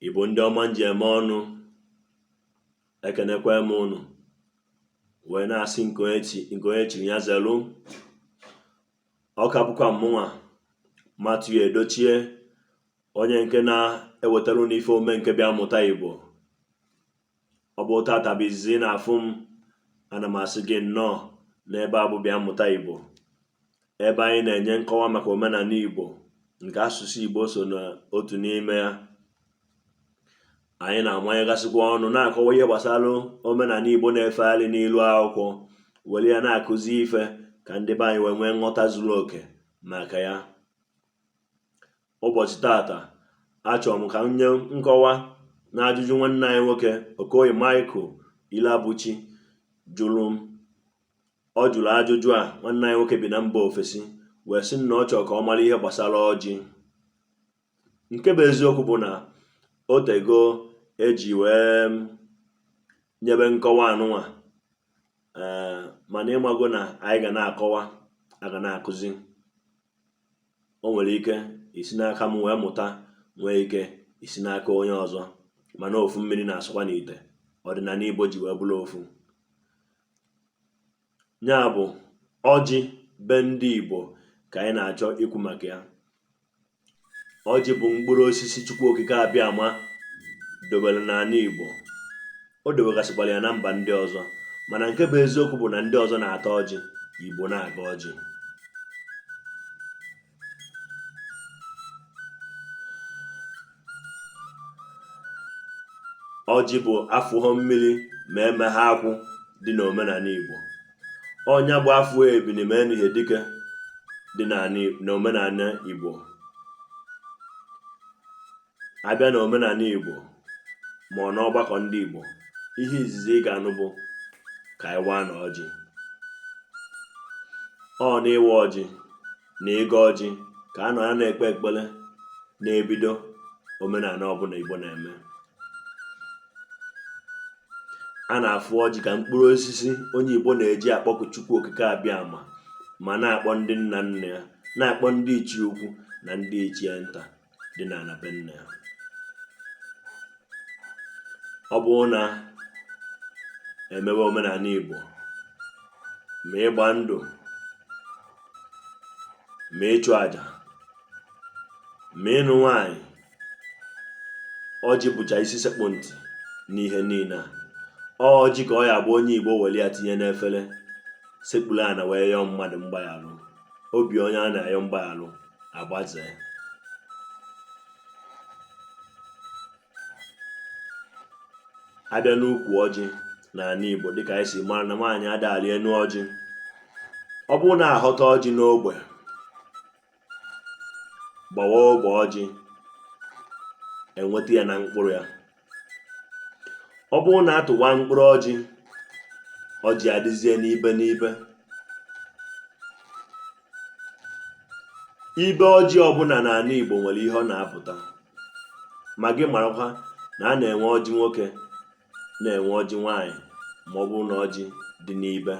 Igbo ndị ọma nji eme ọnụ ekenekwa m ụnụ wee na-asị nke onye chiri ya zelu ọ ka bụkwa mmụnwa Matthew Edochie onye nke na-ewetara ụnụ ife ome nke bịa mụta Igbo ọ bụrụ tata bụ izizi ị na-afụ m ana m asị gị nnọọ n'ebe a bụ bịa mụta Igbo ebe anyị na-enye nkọwa maka omenala Igbo nke asụsụ Igbo so n'otu n'ime ya anyị na-amanyegasịkwa ọnụ na-akọwa ihe gbasara omenala Igbo na-efegharị n'ilu akwụkwọ were ya na-akụzi ife ka ndị be anyị wee nwee nghọta zuru oke maka ya ụbọchị tata achọrọ m ka m nye nkọwa na ajụjụ nwanne anyị nwoke Okoye Michael Iloabuchi jụrụ m ọ jụrụ ajụjụ a nwanne anyị nwoke bi na mba ofesi wee sị na ọ chọrọ ka ọ mara ihe gbasara ọjị nke bụ eziokwu bụ na o tego e ji wee um, nyebe nkọwa anụnwa ee eh, mana ị mago na anyị ga na-akọwa a ga na-akụzi o nwere ike isi n'aka m wee mụta nwee ike isi n'aka onye ọzọ mana ofu mmiri na-asụkwa n'ite ọdịnala Igbo ji wee bụrụ ofu ya bụ ọjị be ndị Igbo ka anyị na-achọ ikwu maka ya ọjị bụ mkpụrụ osisi Chukwu Okike Abịama dobere n'ala Igbo O dewegasịkwara ya na mba ndị ọzọ mana nke bụ eziokwu bụ na ndị ọzọ na-ata ọjị Igbo na-agọ ọjị ọjị bụ afụhọ mmiri ma emeha akwụ dị n'omenala Igbo ọ nya bụ afụ ebini ma enihe dike dị n'omenala Igbo a bịa na omenala Igbo ma ọ n'ọgbakọ ndị Igbo ihe izizi ị ga-anụ bụ ka anyị waanụ ọjị ọ n'ịwa ọjị na ịgọ ọjị ka a na-anọ ekpe ekpere na-ebido omenala ọbụla Igbo na-eme a na-afụ ọjị ka mkpụrụ osisi onye Igbo na-eji akpọku Chukwu Okike Abịama ma na-akpọ ndị nna nna ya na-akpọ ndị ichie ukwu na ndị ichie nta dị n'ana be nna ya ọ bụrụ na e mewe omenala Igbo ma ịgba ndụ ma ịchụ aja ma ịnụ nwanyị ọjị bụcha isi sekpụ ntị n'ihe niile a ọjị ka ọ ya-abụ onye Igbo were ya tinye n'efere sekpuru ana wee yọọ mmadụ mgbaghara obi onye a na-ayọ mgbaghalụ agbazee abịa n'ukwu ọjị n'anị Igbo dịka anyị si mara na nwaanyị ada-alị enu ọjị ọ bụrụ na aghọta ọjị n'ogbe gbawa ogbe ọjị enweta ya na mkpụrụ ya ọ bụrụ na atụwa mkpụrụ ọjị ọjị adịzie n'ibe n'ibe ibe ọjị ọbụla n'anị Igbo nwere ihe ọ na-apụta ma gị marakwa na a na-enwe ọjị nwoke na-enwe ọjị nwaanyị ma ọ bụrụ na ọjị dị n'ibe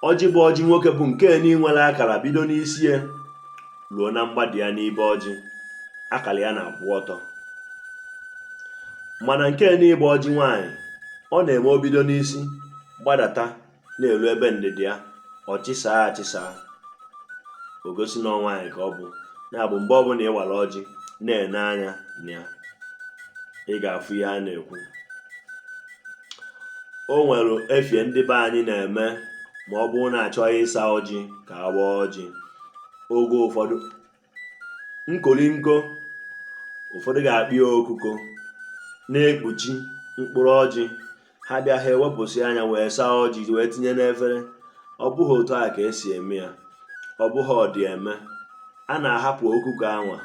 ọjị bụ ọjị nwoke bụ nke nị nwere akara bido n'isi ya ruo na mgbada ya n'ibe ọjị akara ya na-akwụ ọtọ mana nke nị bụ ọjị nwaanyị ọ na-eme o bido n'isi gbadata na-elu ebe ndịda ya ọ chịsaa achịsaa o gosi na nwaanyị ka ọ bụ ya bụ mgbe ọbụla ị wara ọjị na-ene anya na ya ị ga-afụ ihe a na-ekwu o nwere efie ndị be anyị na-eme ma ọ bụrụ na achọọ ịsa ọjị ka a waa ọjị oge ụfọdụ nkolinko ụfọdụ ga-akpọ ya okuko na-ekpuchi mkpụrụ ọjị ha bịa ha ewepụsịa nya wee saa ọjị wee tinye n'efere ọ bụghị otu a ka esi eme ya ọ bụghị ọ dị eme a na-ahapụ okuko anwa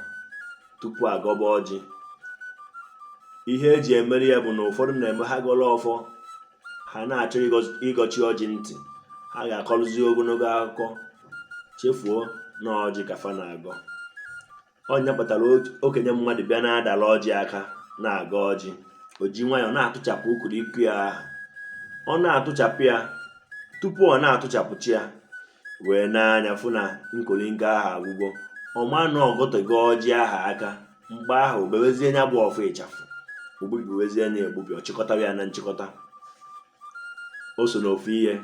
tupu agọba ọjị ihe eji emere ya bụ na ụfọdụ na-eme ha gọrọ ọfọ ha na-achọ ịgọchi ọjị ntị ha ga-akọrụzi ogonogo akụkọ chefuo na ọjị ka fa na-agọ ọ nya kpatara okenye mmadụ bịa na-adala ọjị aka na-agọ ọjị o ji nwayọọ na-atụchapụ ukuru iku ya ahụ ọ na-atụchapụ ya tupu ọ na-atụchapụcha ya wee nee anya fụ na nkolinko ahụ agwụgo ọ ma na ọ gọtego ọjị ahụ aka mgbe ahụ o bewezie nya bụ ọfọ ịchafụ o gbubiwezie nya egbubi ọ chịkọta ya na nchịkọta o so n'ofu ihe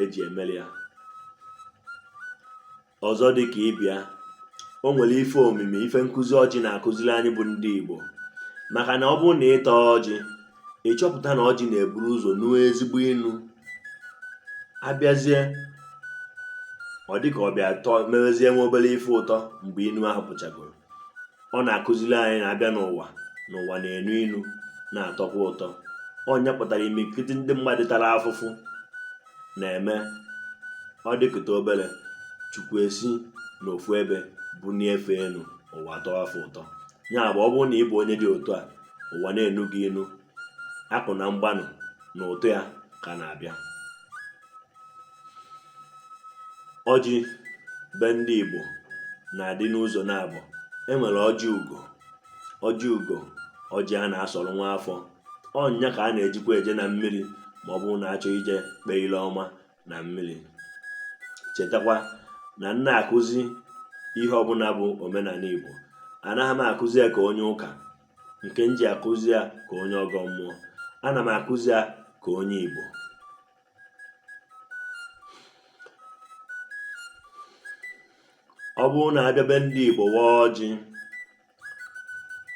eji emeli ya ọzọ dị ka ibe ya o nwere ife omimi ife nkụzi ọjị na-akụziri anyị bụ ndị Igbo maka na ọ bụrụ na ịta ọjị ị chọpụta na ọjị na-eburu ụzọ nuo ezigbo inu abịazie ọ dịka ọ bịa tọọ mewezie nwee obere ife ụtọ mgbe inu ahụ pụchagoro ọ na-akụziri anyị na abịa n'ụwa na ụwa na-enu inu na-atọkwa ụtọ ọ nya kpatara imirikiti ndị mmadụ tara afụfụ na-eme ọ dịkata obere chukwu esi n'ofu ebe bunie fa enu ụwa atọọ fa ụtọ ya bụ ọ bụrụ na ị bụ onye dị otu a ụwa na-enu gị inu akụ na mgbanụ na ụtọ ya ka na-abịa ọjị be ndị Igbo na-adị n'ụzọ naabọ e nwere ọjị ugo ọjị ugo ọjị a na-asọrọ nwa afọ ọ nya ka a na-ejikwa eje na mmiri ma ọ bụrụ na achọ ije kpee ile ọma na mmiri chetakwa na m na-akụzi ihe ọbụla bụ omenala Igbo anaghị m akụzi ya ka onye ụka nke m ji akụzi ya ka onye ọgọ mmụọ ana m akụzi ya ka onye Igbo ọ bụrụ na abịa be ndị Igbo waa ọjị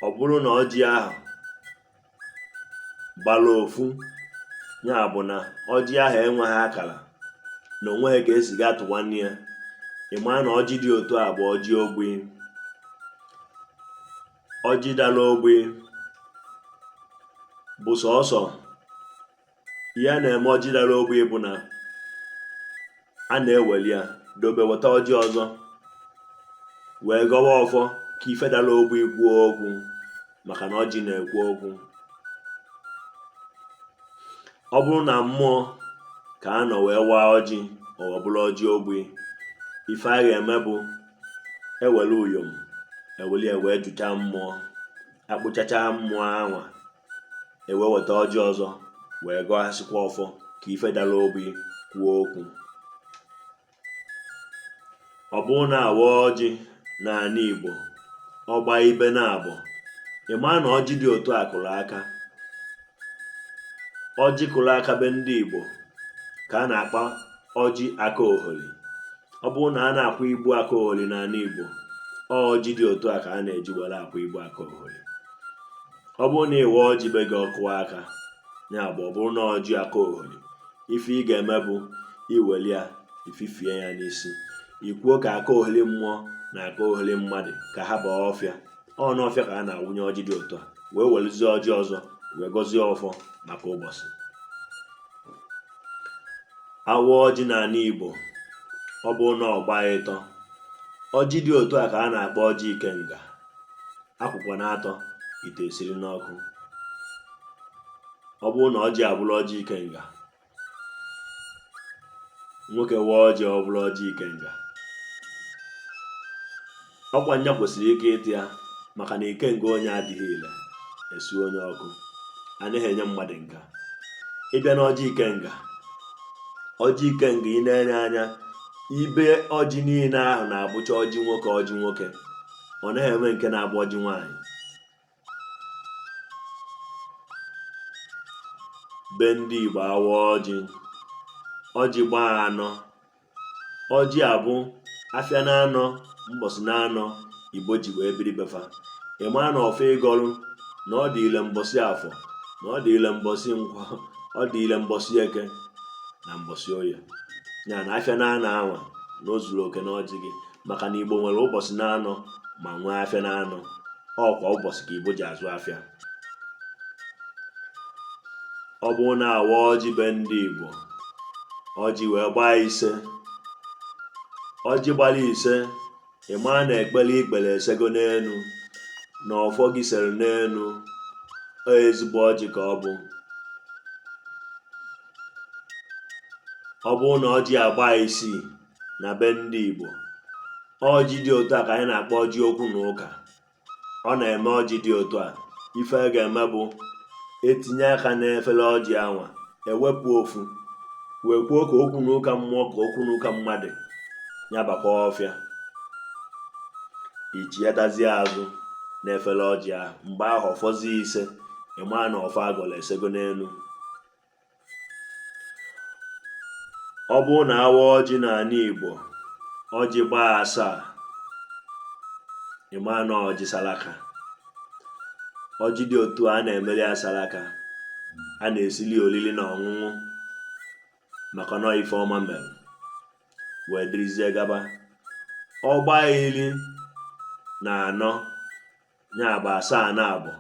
ọ bụrụ na ọjị ahụ gbara ofu ya bụ na ọjị ahụ enweghị akara na o nweghị ka esi ga tụwa nya ị maa na ọjị dị otu a bụ ọjị ogbi ọjị dara ogbi bụ sọsọ ihe a na-eme ọjị dara ogbi bụ na a na-eweli ya dobe weta ọjị ọzọ wee gọwa ọfọ ka ife dara ogbi kwuo okwu maka na ọjị na-ekwu okwu ọ bụrụ na mmụọ ka a nọ wee waa ọjị ọ bụrụ ọjị ogbi ife a ga-eme bụ ewere uyom eweli ya wee jụchaa mmụọ akpụchachaa mmụọ anwa ewee weta ọjị ọzọ wee gọghasịkwa ọfọ ka ife dara ogbi kwuo okwu ọ bụrụ na awa ọjị n'ala Igbo ọgba ibe naabọ ị maa na ọjị dị otu a kụrụ aka ọjị kụrụ aka be ndị Igbo ka a na-akpọ ọjị aka oholi ọ bụrụ na a na-akwa ibu aka oholi n'ala Igbo ọjị dị otu a ka a na-eji were akwa ibu aka oholi ọ bụrụ na ịwa ọjị be gị ọ kụọ aka ya bụ ọ bụrụ na ọjị aka oholi ife ị ga-eme bụ iweli ya ififie ya n'isi ikwuo ka aka oholi mmụọ na aka oholi mmadụ ka ha baa ọfịa ọ n'ọfịa ka a na-awụnye ọjị dị otu a wee werezie ọjị ọzọ wee gọzie ọfọ maka ụbọchị awa ọjị n'ala Igbo ọ bụrụ na ọgba ịtọ ọjị dị otu a ka a na-akpọ ọjị ikenga akwụkwa naatọ ite esiri n'ọkụ ọ bụrụ na ọjị abụrụ ọjị ikenga nwoke waa ọjị ọ bụrụ ọjị ikenga ọ kwa nya kwesịrị ike ịta ya maka na ikenga onye adịghị ile esunye ọkụ anaghị enye mmadụ nka ịbịa na ọjị ikenga ọjị ikenga ị na-ene anya ibe ọjị niile ahụ na-abụcha ọjị nwoke ọjị nwoke ọ naghị enwe nke na-abụ ọjị nwaanyị be ndị Igbo a waa ọjị ọjị gbaa anọ ọjị a bụ afịa na anọ mbọsị na anọ Igbo ji wee biri be fa ị maa na ọfọ ị gọrụ na ọ dị ile mbọsị afọ na ọ dị ile mbọsị nkwọ ọ dị ile mbọsị eke na mbọsị oye ya na afịa na anọ anwa na o zuru oke n'ọjị gị maka na igbo nwere ụbọsị na anọ ma nwee afịa na anọ ọ kwa ụbọsị ka igbo ji azụ afịa ọ bụrụ na a waa ọjị be ndị igbo ọjị wee gbaa ise ọjị gbara ise ị maa na ekpere i kpere esego n'enu na ọfọ gị sere n'enu ezigbo ọjị ka ọ bụ ọ bụrụ na ọjị agbaa isii na be ndị Igbo ọjị dị otu a ka anyị na-akpọ ọjị okwu na ụka ọ na-eme ọjị dị otu a ife a ga-eme bụ e tinye aka n'efere ọjị anwa e wepụ ofu wee kwuo ka okwu na ụka mmụọ ka okwu na ụka mmadụ ya bakwa ọfịa i chighatazie azụ n'efere ọjị ahụ mgbe ahụ ọ fọzie ise ị maa na ọfọ a gọrọ esego n'enu ọ bụrụ na a waa ọjị n'anị Igbo ọjị gbaa asaa ị ma na ọjị salaka ọjị dị otu a a na-emeli ya salaka a na-esili oriri na ọṅụṅụ maka na ife ọma mere wee dịrịzie gaba ọ gbaa iri na anọ ya bụ asaa naabọ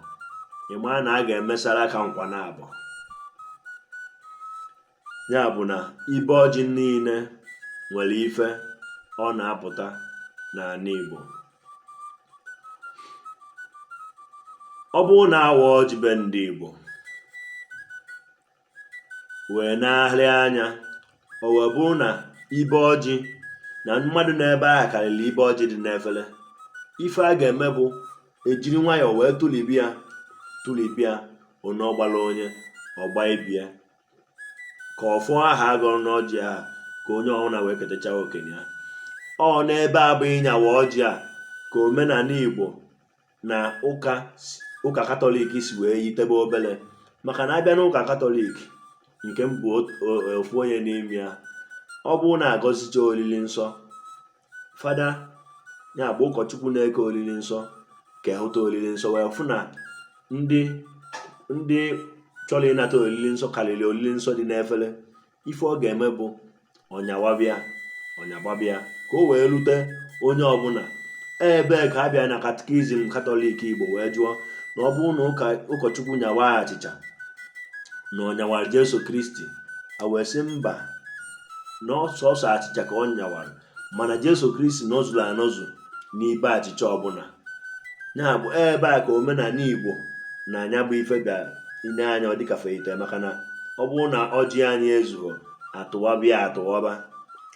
ị maa na a ga-eme saraka nkwa naabọ ya bụ na ibe ọjị niile nwere ife ọ na-apụta n'anị Igbo ọ bụrụ na a waa ọjị be ndị Igbo wee na-ahịrị anya o wee bụrụ na ibe ọjị na mmadụ n'ebe ahụ karịrị ibe ọjị dị n'efere ife a ga-eme bụ e jiri nwayọọ wee tụlibi ya tụlibi ya onye ọ gbara onye ọ gbaa ibe ya ka ọfọ ahụ a gọrọ n'ọjị ahụ ka onye ọbụla wee ketacha oke nke ya ọ n'ebe a bụ ịnyawa ọjị a ka omenanị Igbo na ụka ụka katọlik si wee yitebe obele maka na a bịa na ụka katọlik nke m bụ ofu onye n'ime ya ọ bụrụ na a gọzichaa olili nsọ fada ya bụ ụkọchukwu na-eke olili nsọ ka ehụta olili nsọ wee fụ na ndị ndị chọrọ ịnata olili nsọ karịrị olili nsọ dị n'efere ife ọ ga-eme bụ ọ nyawaba ya ọ nyawaba ya ka o wee rute onye ọbụla ebe ka a bịa na katikizim katọlik igbo wee jụọ na ọ bụrụ na ụkọchukwu nyawa achịcha na ọ nyawara jesu kristi a wee sị mba na ọ sọsọ achịcha ka ọ nyawara mana Jesu Kristi nọzuru anọzu n'ibe achịcha ọbụla ya bụ ebe a ka omenala Igbo na nya bụ ife ga-ene anya ọ dịka fa yite maka na ọ bụrụ na ọjị anyị ezughọ a tụwaba ya a tụwaba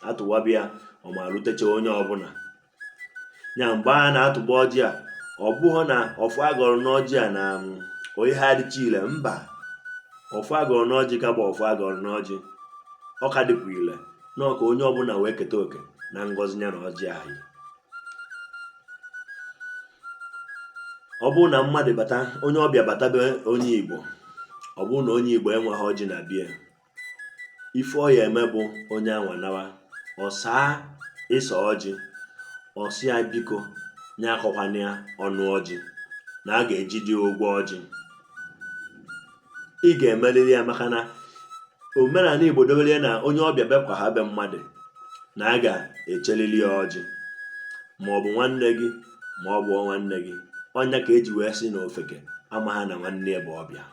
a tụwaba ya ọ ma rutecha onye ọbụla ya mgbe a na-atụba ọjị a ọ bụghị na ọfọ a gọrọ n'ọjị a na um, ọ yaha adịcha ile mba ọfọ a gọrọ n'ọjị ka bụ ọfọ a gọrọ n'ọjị ọ ka dịkwa ile na ọ ka onye ọbụla wee keta oke na ngọzi ya na ọjị anyị ọ bụrụ na mmadụ bata onye ọbịa bata be onye igbo ọ bụrụ na onye igbo enweghị ọjị na be ya ife ọ ya eme bụ onye anwa nawa ọ saa ịsa ọjị ọ sị ya biko nya akọkwana ya ọnụ ọjị na a ga-ejide ụgwọ ọjị ị ga-emerịrị ya maka na omenala Igbo dowere ya na onye ọbịa bịakwa ha be mmadụ na a ga-echeliri ya ọjị ma ọ bụ nwanne gị ma ọ bụ nwanne gị ọ nya ka e ji wee sị na ofeke amaha na nwanne ya bụ ọbịa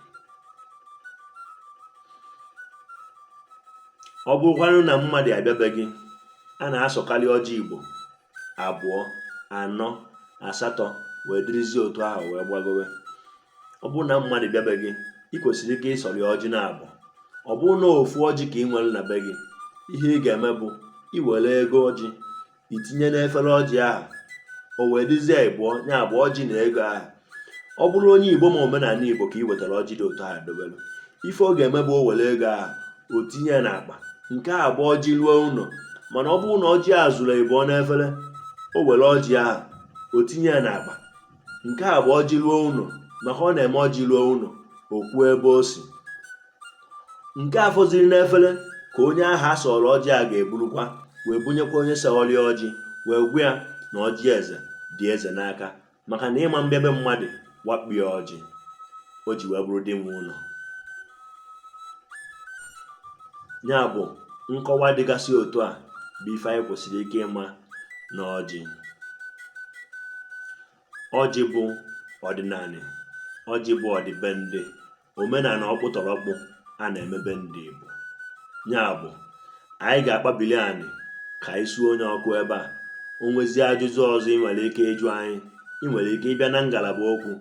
ọ bụrụkwanụ na mmadụ abịa be gị a na-asọkarị ọjị Igbo abụọ anọ asatọ wee dịrịzie otu ahụ wee gbagowe ọ bụrụ na mmadụ bịa be gị ị kwesịrị ike ịsọrọ ya ọjị na abụọ ọ bụrụ na ofu ọjị ka ị nwere na be gị ihe ị ga-eme bụ i were ego ọjị i tinye n'efere ọjị ahụ o wee dịzie ịbụọ ya bụ ọjị na ego ahụ ọ bụrụ onye igbo ma omenala igbo ka ị wetara ọjị dị otu ahụ dobelu ife ọ ga-eme bụ o were ego ahụ o tinye n'akpa nke a bụ ọjị ruo ụlọ mana ọ bụrụ na ọjị a zuru ịbụọ n'efere o were ọjị ahụ o tinye ya n'akpa nke a bụ ọjị ruo ụlọ maka ọ na-eme ọjị ruo ụlọ o kwuo ebe o si nke a fọzịrị n'efere ka onye ahụ a sọrọ ọjị a ga-eburukwa wee bunyekwa onye sọrọ ọjị wee gwa ya na ọjị eze dị eze n'aka maka na ị ma bịa be mmadụ wakpo ya ọjị o ji wee bụrụ di nwe ụlọ ya bụ nkọwa dịgasị otu a bụ ife anyị kwesịrị ike ịma na ọjị ọjị bụ ọdịnala ọjị bụ ọdịbendị omenala ọkpụtọrọkpụ a na-emebe ndị Igbo ya bụ anyị ga-akpabili anyị ka anyị suo onye ọkụ ebe a o nwezie ajụjụ ọzọ ị nwere ike ịjụ anyị ị nwere ike ịbịa na ngalaba okwu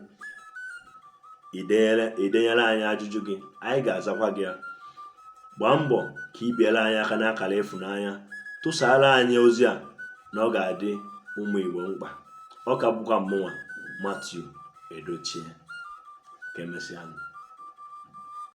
idenyere anyị ajụjụ gị anyị ga-azakwa gị ya gbaa mbọ ka ị biere anyị aka n'akara ịfụnanya tụsara anyị ozi a na ọ ga-adị ụmụ Igbo mkpa ọ ka bụkwa mụnwa Matthew Edochie ka emesịa